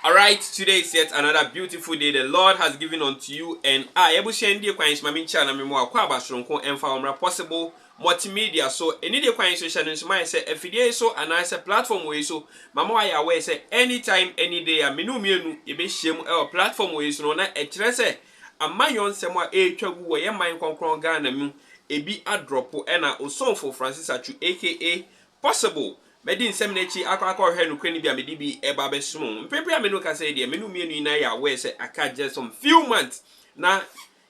Alright today is yet another beautiful day the Lord has given unto you and I Yɛabusua anidie kwan yi so ma me nkyira na me mmoa kɔ aba soronko ɛmfa hɔ mmra possible multimedia so anidie kwan yi so hyɛ no nso mayɛ sɛ afidie yi so anaasɛ platform wɔ yi so mama wayɛ aware sɛ anytime any day a me ne wo mmienu yɛbɛhyiam ɛwɔ platform wɔ yi so no na ɛkyerɛ sɛ amayɔ nsɛm a ɛretwa gu wɔ yɛ man kɔnkrɔn Ghana mu ebi adrɔpo ɛna osomfo Francis Atsu aka possible Mɛdi nsɛm no akyi akɔ akɔhwɛ nokorɛ no bi a mede bi reba abɛsom wo. Mprempren a me ne wo kasa yi deɛ, me ne wo mmienu nyinaa yɛ aware sɛ aka just some few months na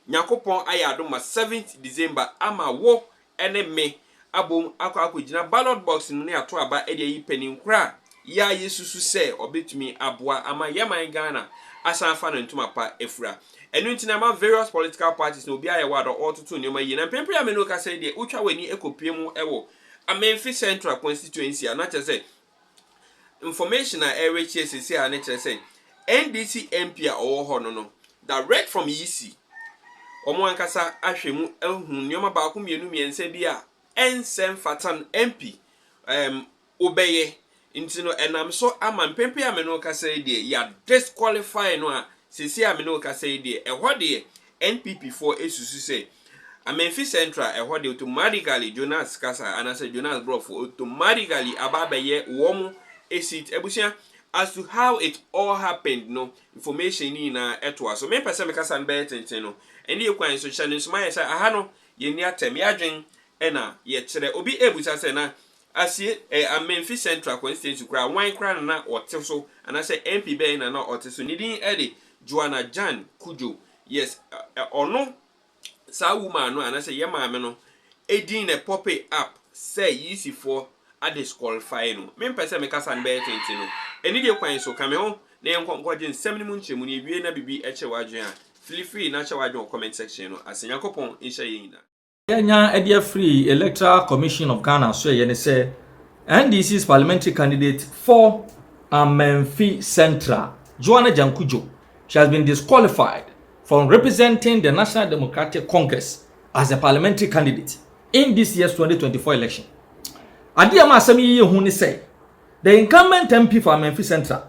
Nyankopɔn ayɛ adom ma seventh December ama wo ne me abom akɔ akɔgyina ballot box no mu na yɛato aba de ayi panin korɔ a yɛa yɛsusu sɛ ɔbɛtumi aboa ama yɛ man Ghana asan afa no ntoma pa afura. Ɛno nti na ɛma various political parties no obiara yɛ wɔ adɔ ɔretoto nneɛma yie. Na mprempren a me ne wo kasa yi deɛ, wotwa w'ani kɔpue mu wɔ Amenfi Central Constituency a na kyerɛ sɛ information a ɛrekyerɛ sisi a ne kyerɛ sɛ NDC MP a ɔwɔ hɔ no no direct from Yisi wɔn ankasa ahwɛ mu ahu nneɛma baako mmienu mmiɛnsa bi a ɛnsɛ mfatan MP um, wobɛyɛ Nti no ɛnam so ama mpɛn pii a me ne wo kasa yi deɛ yɛa disqualify no a seesei a me ne wo kasa yi deɛ ɛhɔ deɛ NPP foɔ ɛsusu sɛ Amenfi Central ɛhɔ deɛ automatically Jonas kasa anaasɛ Jonas Borɔfo automatically aba abɛyɛ wɔn seat abusua as to how it all happened no information no nyinaa ɛtoa so mempɛ sɛ me kasa no bɛyɛ tenten no ɛne yɛ kwan so hyɛ no nso mayɛ sɛ aha no yɛnni atɛm yɛadwen ɛna yɛkyerɛ obi ɛbusa sɛ na Asie, ɛyɛ Amenfi Central Constituency koraa. Wan koraa na na ɔte so anaasɛ MP bɛn na na ɔte so? Ne din de Joanna Jan Cudjoe. Yes, ɔno, saa woman no anaasɛ yɛn maame no din na pope up sɛ UC foɔ a disqualify no. Me mpɛ sɛ me kasa no bɛyɛ tenten no. Anidie kwan so, ka me ho na yɛn kɔ nkɔgye nsɛm no mu nkyerɛmu. Na ewie na biribi kyere w'adwene a, fili free na kyerɛ w'adwene wɔ comment section no ase. Nyankopɔn nhyira yɛn nyinaa. Yɛanya de afiri Electoral Commission of Ghana so yɛ ne sɛ NDC's parliamentary candidate for Amenfi Central, Joanna Jankudjo, she has been disqualified from representing the National Democratic Congress as a parliamentary candidate in this year's 2024 election. Adeɛ ma asɛm yi yɛ hu ne sɛ, the incumbent MP for Amenfi Central,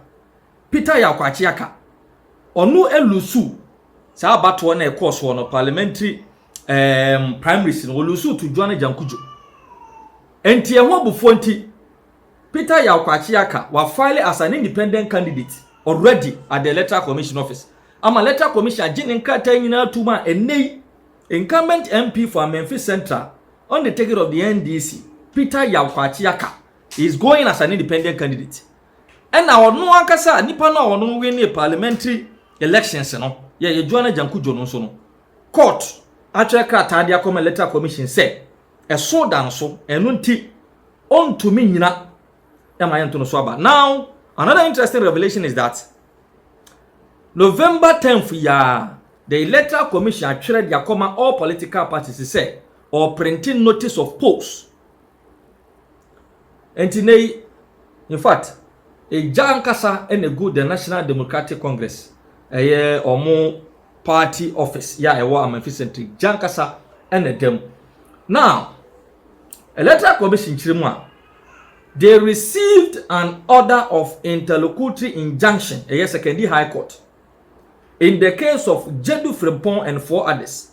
Peter Yaw Kwakye Aka, ɔno alusu saa abatoɔ no a ɛkɔɔ soɔ no parliamentary ɛɛm primaries no wɔlusu to Juan Ajankujo. Enti ɛho abufuo nti Peter Yaw Kwakye aka wafile as an independent candidate already at the electoral commission office ama electoral commission agye ne nkrataa nyinaa tom a ɛnnɛ yi incumbent MP for Amenfi Central on the ticket of the NDC Peter Yaw Kwakye aka is going as an independent candidate ɛna ɔno ankasa nipa no a ɔno winne parliamentary elections no yɛyɛ Juan Ajankujo no nso no Court atwerɛ krataa de akɔma Electoral Commission sɛ ɛso da no so, ɛno nti ɔntumi nnyina ma yɛnto no so aba. Now, another interesting revelation is that November 10th yi ara, the Electoral Commission atwerɛ de akɔma all political parties sɛ ɔreprinte notice of polls Enti nnɛ yi, in fact, egya ankasa na egu The National Democratic Congress, ɛyɛ wɔn party office yɛ a ɛwɔ Amanfi Central, egya ankasa na ɛda mu. Now, Electoral Commission kyerɛ mu a, they received an order of interlocutory injunction, ɛyɛ Sekondi High Court, in the case of Jedu Frimpong and four others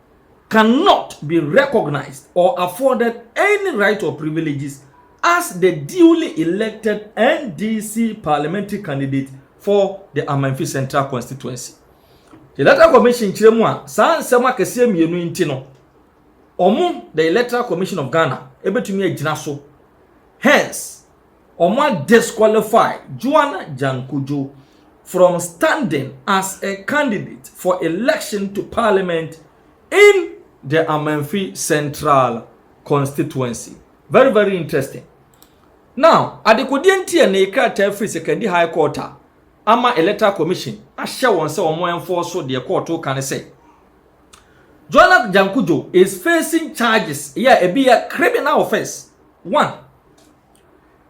cannot be recognized or afforded any rights or privileges as the duly elected NDC parliamentary candidate for the Amanfi Central constituency. The Electoral Commission kyerɛ mu a saa nsɛm akɛseɛ mmienu nti no, wɔn the Electoral Commission of Ghana ebetumi agyina so. Hence, wɔn a disqualify Joanna Jankudjo from standing as a candidate for election to parliament in the Amanfi Central constituency. Very very interesting. Now, adekodeɛ nti a ne krataa firi Sekandi High Court a ama Electoral Commission ahyɛ wɔn sɛ wɔn ɛnfɔɔ so deɛ kɔɔto ka ne sɛ Joanna Jankudjo is facing charges yɛ ebi yɛ criminal offence One,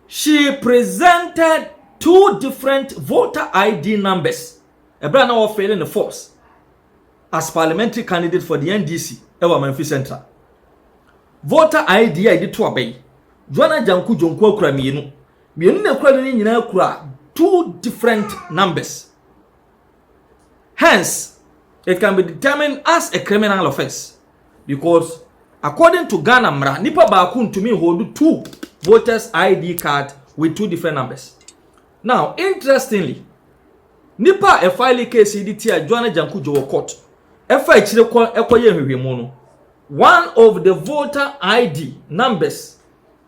she presented two different voter ID numbers ɛberɛ a na wɔfeele ne force as parliamentary candidate for the NDC ɛwɔ Amanfi Central. Voter ID a yɛde to aba yi, Joanna Janku Jonku akura mmienu. Mmienu na akura no ne nyinaa kura two different numbers. Hence, it can be determined as a criminal offence because according to Ghana mmara, nipa baako ntumi hold two voters ID card with two different numbers. Now, interestingly, nipa a ɛfile case yi de tia Joan Ajanku Djo wɔ court ɛfa akyire kɔ ɛkɔyɛ nhwehwɛmu no, one of the voter ID numbers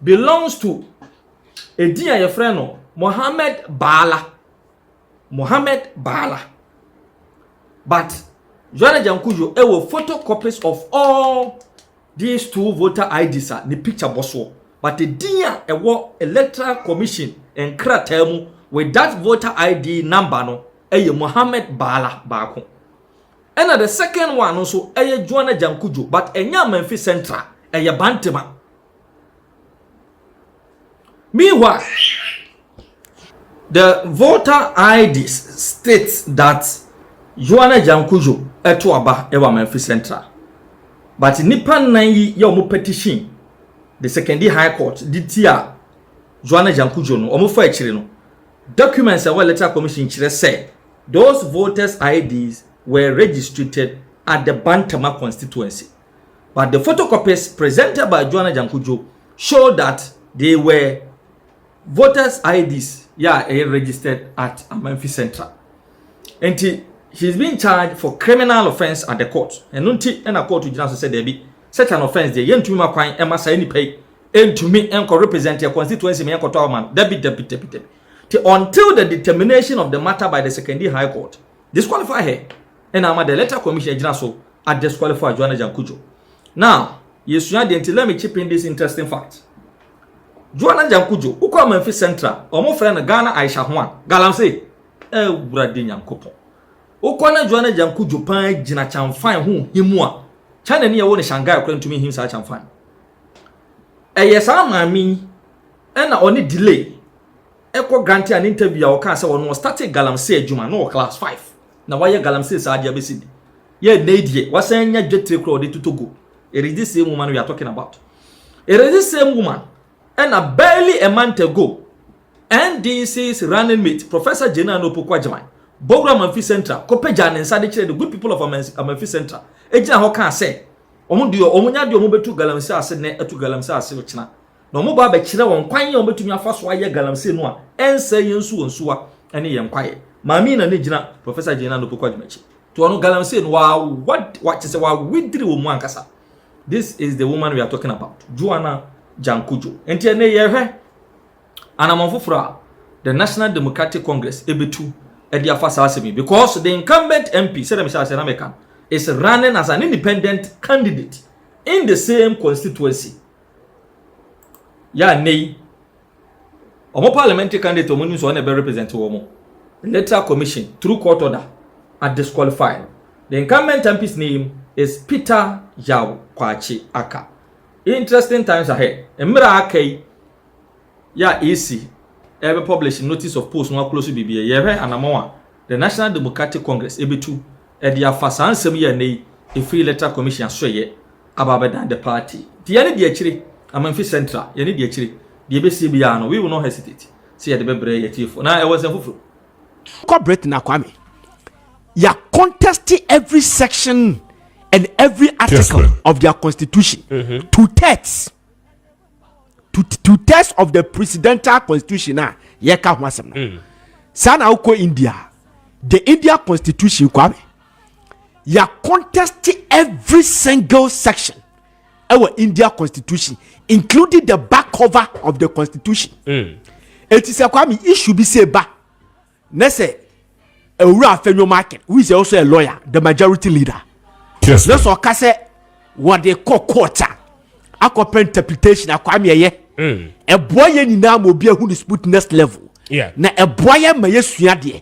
belongs to edin a yɛfrɛ no Mohammed Baala. Mohamed Bala but Joana Jankujo wɔ photo copies of all these two voter IDs a ne picture bɔ soɔ but din a ɛwɔ Electoral Commission nkrataa mu with that voter ID number no ɛyɛ Mohamed Bala baako ɛna the second one no nso ɛyɛ Joana Jankujo but ɛnyɛ Amanfi Central ɛyɛ Bantema. Meanwhile, the voter ID states that Joanna Jankujo ɛto aba ɛwɔ Amanfi Central. But nipa nnan yi yɛ wɔn petition the secondary high court de tia Joanna Jankujo no wɔn fa akyire no. Documents ɛwɔ electoral commission kyerɛ sɛ those voters IDs were registrated at the Bantama constituency. but the photocopies presented by Joanna Jankojo showed that they were voters IDs yɛ a ɛyɛ registered at Amanfi Central. Nti he's being charged for criminal offence at the court. Ɛno nti ɛna court gyina so sɛ daabi such an offence deɛ yɛntumi ma kwan ɛma saa nipa yi ɛntumi ɛnkɔ represent yɛ constituency ma yɛnkɔtɔ ama no dabi dabi dabi dabi. Nti until the determination of the matter by the Sekondi High Court disqualify her ɛna ama the electoral commission agyina so a disqualify Joanna Jankujo now yɛsua deɛ nti let me chip in this interesting fact Joanna Jankujo wokɔ Amanfi Central wɔn frɛ no Ghana Aisha Huang galamsey ɛwurade eh, nyankopɔn wokɔ na Joanna Jankujo paa gyina kyamfan ho himu a China ni ɛwɔ no Shanghai kora ntumi him saa kyamfan ɛyɛ saa maame yi ɛna ɔne delay ɛkɔ grante a ne interview a ɔkaa sɛ ɔno ɔstate galamsey adwuma na ɔwɔ class five na wayɛ galamsey saa de abɛsi de yɛ nnɛ yi deɛ wasan anya dwetire kora ɔde toto gold it is this same woman we are talking about it is this same woman ɛna barely a month ago ndc's running mate professor Jena no pokwa gyaman bɔwura amanfi central kɔpagya ne nsa de kyerɛ the good people of amanfi central egyina hɔ kaa sɛ wɔn deɛ wɔn nya deɛ wɔn bɛtu galamsey ase nnɛ ɛtu galamsey ase ɔkyena na wɔba abɛkyerɛ wɔn kwan a wɔbɛtumi afa so ayɛ galamsey no a ɛnsɛe yɛn nsuo nsuwa ne yɛn kwaeɛ. Maame na ne gyina Professor Jane Ann Opoku Agyemakye. To ɔno galamsey no wawa kyɛ sɛ wawediri wɔ mu ankasa. This is the woman we are talking about, Joanna Jankojo. Nti ɛnɛ yɛhwɛ anamɔn foforɔ a the National Democratic Congress ɛbɛtu ɛde afa saa asɛm yi because the incumbent MP sɛdeɛ mehyɛ asɛ na meka is running as an independent candidate in the same constituency Yɛ a nnɛ yi, wɔn parliamentary candidate wɔn nim sɛ wɔn na ɛbɛ represent wɔn. Electoral Commission through court order a disqualify no. The incumbent MP's name is Peter Yaw Kwakye Aka. Interesting times ahead. Mmerɛ a aka yi yɛ a EC ɛbɛ publish notice of post no aklose biribiara. Yɛhwɛ anamɔn a the National Democratic Congress ɛbɛtu ɛde afa saa nsɛm yi a nnɛ yi ɛfiri Electoral Commission aso ɛyɛ aba abɛdan the party nti yɛne di akyire amanfi central yɛne di akyire deɛ ɛbɛsie biara no we will not hesitate sɛ yɛde bɛbrɛ yɛ tiefo na ɛwɔ nsɛm foforɔ kɔ britain na kwame ya contest every section and every article yes, of their constitution mm -hmm. two thirds two, two thirds of the presidential constitution a yɛka ho asɛm no mm. saa na wokɔ india the india constitution kwame yɛ contest every single section ɛwɔ india constitution including the back cover of the constitution mm. eti sɛ kwame issue bi sɛ ba ne sɛ ewura afɛnwo market who is also a lawyer the majority leader ne sɛ ɔka sɛ wɔde kɔ court a akɔpɛ interpretation akwame ɛyɛ ɛboa mm. yɛ nyinaa ma obi ahu ne sputness level na ɛboa yɛ ma yɛ sua deɛ.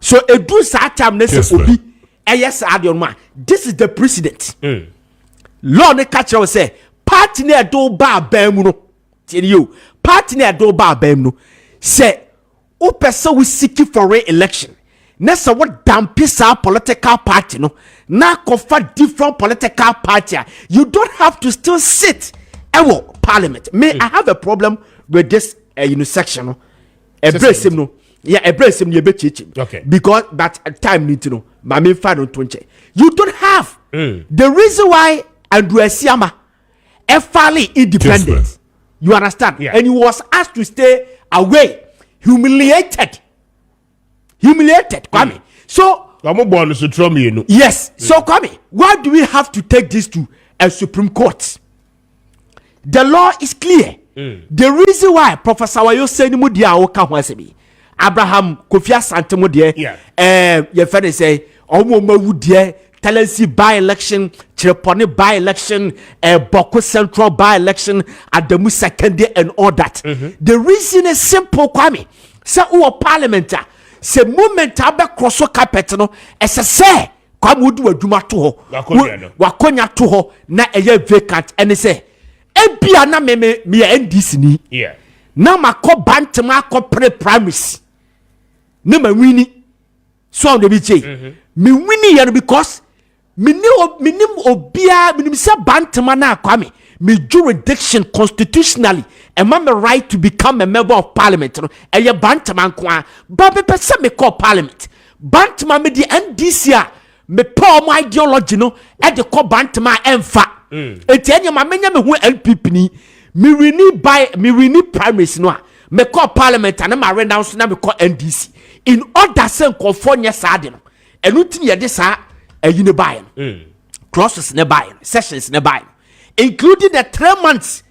so edu saa time ne sɛ obi ɛyɛ saa deɛ ɔno a this is the president mm. law ne ka kyerɛ wo sɛ party ne ɛde wo ba abɛn mu no tiɛ ne yio party ne ɛde wo ba abɛn mu no sɛ wopɛ sɛ wosiki for re-election na sɛ wodampe saa political party no na akɔfa different political party a you don't have to still sit ɛwɔ parliament me mm. i have a problem with this uh, you know, section no. ɛbrɛ nsɛm no yɛ ɛbrɛ nsɛm no yɛ bɛ kyekyem okay because but uh, time ni ti no maame nfa no nto nkyɛn you don't have mm. the reason why andrew asiama ɛfale independent you understand yeah. and he was asked to stay away humiliated humiliated mm. kwame mm. so. ọmọ bọ ọnu sotro mienu. yes so mm. kwame why do we have to take this to a supreme court. the law is clear mm. the reason why professor wayo sɛ ni mu deɛ a wɔka ho asɛm yi abraham kofi asante mu deɛ ɛɛ eh, yɛfɛ ne sɛ wɔn wɔn awu deɛ talensi by election kyerɛpɔne by election ɛɛ eh, bɔko central by election adamu sakande and all that mm -hmm. the reason is simple kwame sɛ wɔ parliament a sɛ movement abɛkorɔ so carpet no ɛsɛ sɛ. kwame wodi w'adwuma to hɔ w'akonya to hɔ na ɛyɛ vacant ɛne sɛ ebia na me me meyɛ ndc ni na makɔ bantem akɔ pere primaries ne ma wini so ɔn de bi kye mm-hmm. me wini yɛ no because mene menim obiara menim sɛ bantama no akwa me me jurisdiction constitutionally ɛma me right to become a member of parliament no ɛyɛ bantama nko a ba mepɛ sɛ mekɔ parliament Bantama me deɛ NDC a mepɛ ɔmo ideology no ɛde kɔ bantama a ɛnfa mm. eti ɛnyɛ ma menyɛ me ho NPP ni me wini by me wini primaries no a mekɔ parliament a na ma renounce na mekɔ NDC in order sɛ nkɔfoɔ nyɛ saa de no ɛno ti yɛde saa ɛyi ne baayɛ no mm. crosses ne baayɛ no sessions ne baayɛ no including the three months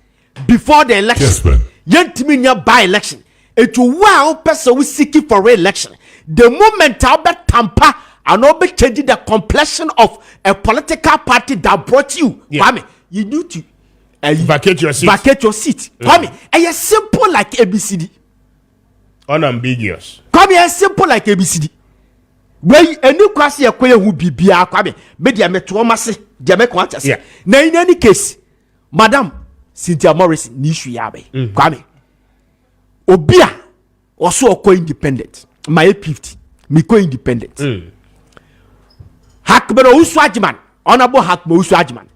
before the election yes, yɛntumi nya by election nti wo a wopɛ sɛ wo siki for re-election the moment a wobɛtampa anaa wobɛkyɛgye the complexion of a political party that brought you yeah. kwame you need to uh, vacate your seat vacate your seat mm. kwame ɛyɛ simple like abcd unambiguous kwame ɛyɛ simple like abcd wei ɛni kwa se yɛkɔ yɛ hu biribiara kwame me deɛ metoɔ ma se deɛ mɛkɔ akyɛ se na in any case madam cynthia morrison ne issue yɛ abɛn mm. kwame obi a ɔso ɔkɔ independent mayɛ fifty mekɔ independent mm. hakmɛrɛ owusu agyeman honourable hakmɛrɛ owusu agyeman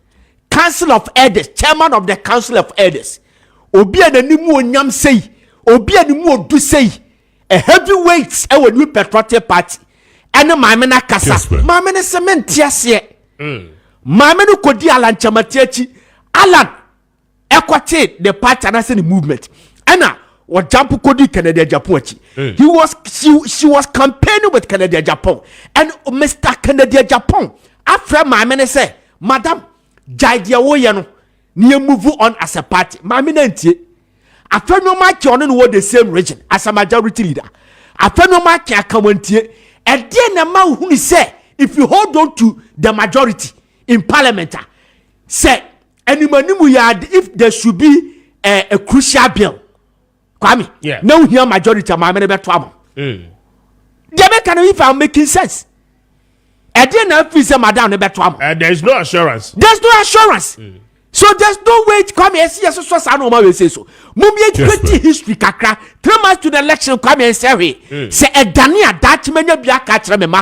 council of elders chairman of the council of elders obi a n'anim onyam sei obi a ne mu odu sei. A heavy weight wɔ New Patriotic Party ɛne maame no akasa. Maame no sɛ mente aseɛ. Mm. Maame no kɔdi Alan Kyamati akyi. Alan ɛkɔtee ne party anaasɛ ne movement. Ɛna wɔjampo kɔdi Kennedy Agyapong akyi. Mm. He was, she, she was campaigning with Kennedy Agyapong. And Mr. Kennedy Agyapong afrɛ maame no sɛ, madam, gyae deɛ woyɛ no. Ne yɛ move on as a party maame na ntie afɛ nneɛma akye ɔne no wɔ the same region as a majority leader afɛ nneɛma akye aka wɔn ntie ɛdeɛ na ɛma ohunu sɛ if you hold on to the majority in parliament a sɛ animanimu yɛ ade if there should be a, a crucial bill kwame yeah. na wohia majority a maame no bɛto ama mm. deɛ mɛka no if am making sense ɛdeɛ na afiri sɛ madam no bɛto ama uh, there is no assurance there is no assurance mm. so there is no way kwame ɛsi yɛ soso saa na ɔma wei se so mom yɛ twɛti history kakra three months to the election kwame nsɛ hwee mm. sɛ ɛdane a daakye manya bi aka kyerɛ me ma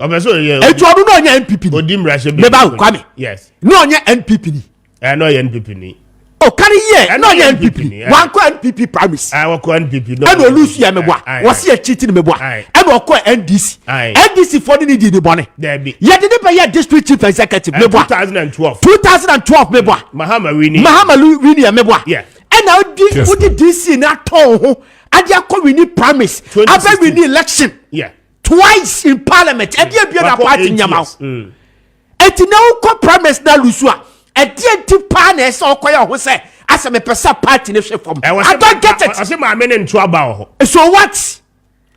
ɔbɛ sɛ ɔyɛ ɛtu ɔno na ɔnyɛ npp ni odi mmarahyɛ bi mɛba nkwa mi yes na ɔnyɛ npp ni ɛna ɔyɛ npp ni ɔkari yɛ ɛna ɔyɛ npp ni wankɔ npp primaries ɛwɔkɔ npp ni ɛna olusu yɛ mɛbɔ a wɔsi yɛ cheating mɛbɔ a ɛna ɔkɔ ndc ndc fɔ ne ni di ni bɔnɛ yɛde ne bɛ yɛ district chief executive mɛbɔ a two thousand and twelve two thousand and twelve mɛbɔ a mahama wini mahama wini yɛ mɛbɔ a ɛna odi odi dc na tɔn ho adi akɔ wini primaries abɛ wini election. Yeah. twice in parliament ɛdeɛ mm. bia na party nyama wo mm. ɛti na wokɔ primaries na lusu a ɛdeɛ nti paa na ɛsɛ ɔkɔyɛ ɔho sɛ asɛ mepɛ sɛ party ne hwɛ fam i don't get it ɔse maame ne nto aba wɔ hɔ so what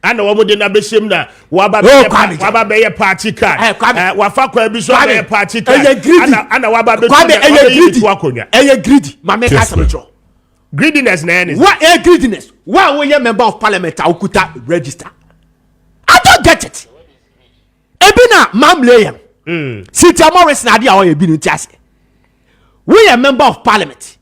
ana wɔn de na bɛhyɛm na waba bɛyɛ waba bɛyɛ party card eh, eh, wafa kwan bi so abɛyɛ party card ana ana waba bɛtu na ɔbɛyɛ ne to akonnwa ɛyɛ greedy maame kasa mi kyerɛ Greediness na ɛyɛ ne. Wa ɛyɛ greediness. Wa a woyɛ member of parliament a wokuta register. I don't get it. Ebi na mamle yɛn. Mm. Cynthia Morris na ade a ɔyɛ bi no ti ase. Woyɛ member of parliament.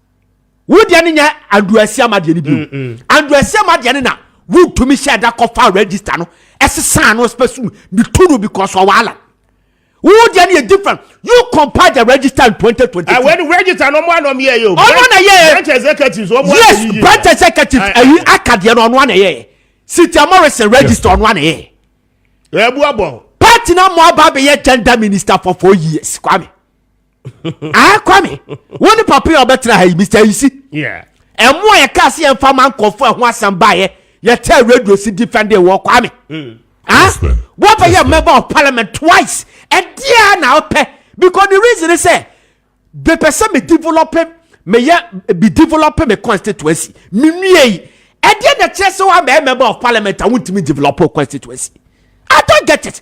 Wo deɛ ne nyɛ Andrew Asiama deɛ ne bi. Mm, mm. Andrew Asiama deɛ ne na wontumi hyɛ da kɔfa register no ɛsesa no spɛsum ne tu no because ɔwɔ alam. Wo deɛ no yɛ different. You compare the register in twenty twenty two. Ɛwɛ ni register na ɔmo anɔ ɔmo yɛ yɛ o. Ɔno na yɛ yɛ. Branch executives ɔmo ayɛ yiye. Yes branch executives ɛyi aka deɛ no ɔno ana yɛ yɛ. Cynthia Morrison register ɔno ana yɛ. Ɛbu abɔ. Party na mo aba abɛyɛ gender minister for four years Kwame. ah kwame wo ne papa yi a ɔbɛtena ha yi mr ayisi ɛmo a yɛka se yɛmfa ma nkɔfo a ɛho asɛm baeɛ yɛtɛ radio si defending wɔ kwame mm. ah wɔbɛyɛ member of parliament twice ɛdeɛ na wopɛ because the reason is sɛ bepɛ sɛ me develop meyɛ bi develop me constituency menwie yi ɛdeɛ na kyerɛ sɛ woamɛyɛ member of parliament a wontumi develop constituency i don't get it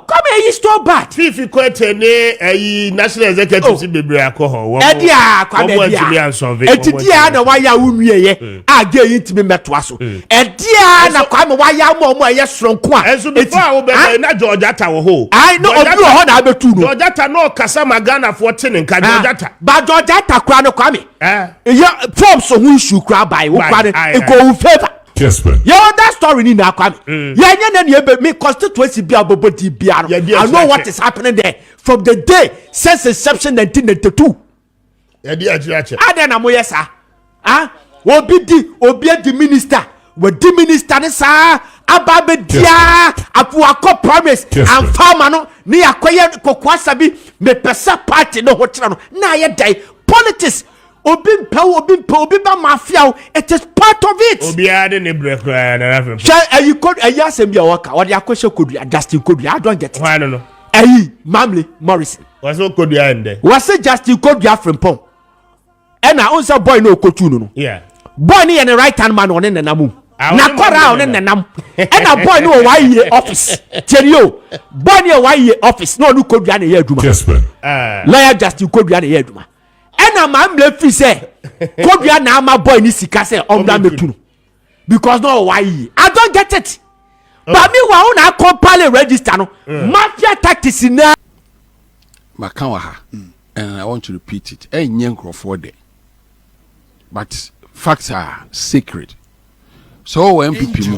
Come eyi store bad. Fifi Koete ne ayi national executive si oh. bebree akɔ hɔ. Wɔn ɛdi a kwame ɛdi a ɛti di a na wayɛ awo nwie yɛ hmm. a gye yi ntumi mɛtoa so. Hmm. Ɛdi a na kwame wayɛ ama ɔmo ɛyɛ soronko a. Ɛnso before a wo bɛbɛ na George Atta wɔ hɔ. Ayi na obi wɔ hɔ na abɛtu no. George Atta na ɔkasa ma Ghana foɔ te ne nka ah. George Atta. Ba George Atta kura no kwame. Ɛyɛ eh. forms ho issue kura ban wo kura no nkɔ wo favour. Kespen. Yɛ other story ni na kwame. Mm. Yɛ nye ne ne ebe me constituency bi abobo di bia no. I know what is happening there from the day since inception 1992. Yɛ di akyire akyɛ. Adɛ na mo yɛ saa. Ah, obi di obi di minister. Wa di minister ne saa aba be dia apo akɔ primaries and farmer no ne akɔyɛ kokoasa bi me pesa party no ho kyerɛ no. Na yɛ dai politics Obi mpɛ wo, obi mpɛ obi ba mafia wo. It is part of it. Obiara de ne brɛ koraa na n'afɛ. Hwɛ ayi ko ayi asɛm bi a wɔka wɔde akɔhyɛ kodua Justin kodua I don't get it. Hwan no no? Ayi Mamle Morrison. Wɔsɛ okodua ndɛ. Wɔsɛ Justin kodua frimpɔn. Ɛna o nsɛ boy na okotu no no. Yeah. Boy ne yɛ ne right hand man ɔne nenam o. Na kɔra ɔne nenam. Ɛna boy ne wɔ wɔayɛ office. Tiɛni o. Boy ne yɛ wɔayɛ office na ɔne kodua na yɛ adwuma. Lawyer Justin kodua na yɛ adwuma. ɛna maa mmerɛ firi sɛ kodua na ama boy ne sika sɛ ɔmmra mɛtu no because na ɔwɔ ayie i don't get it oh. but me wa wo na akɔmpale register no mm. mafia tactics na maka wɔ ha mm. and i want to repeat it ɛnyɛ nkurɔfoɔ dɛ but facts are sacred so wɔ npp mu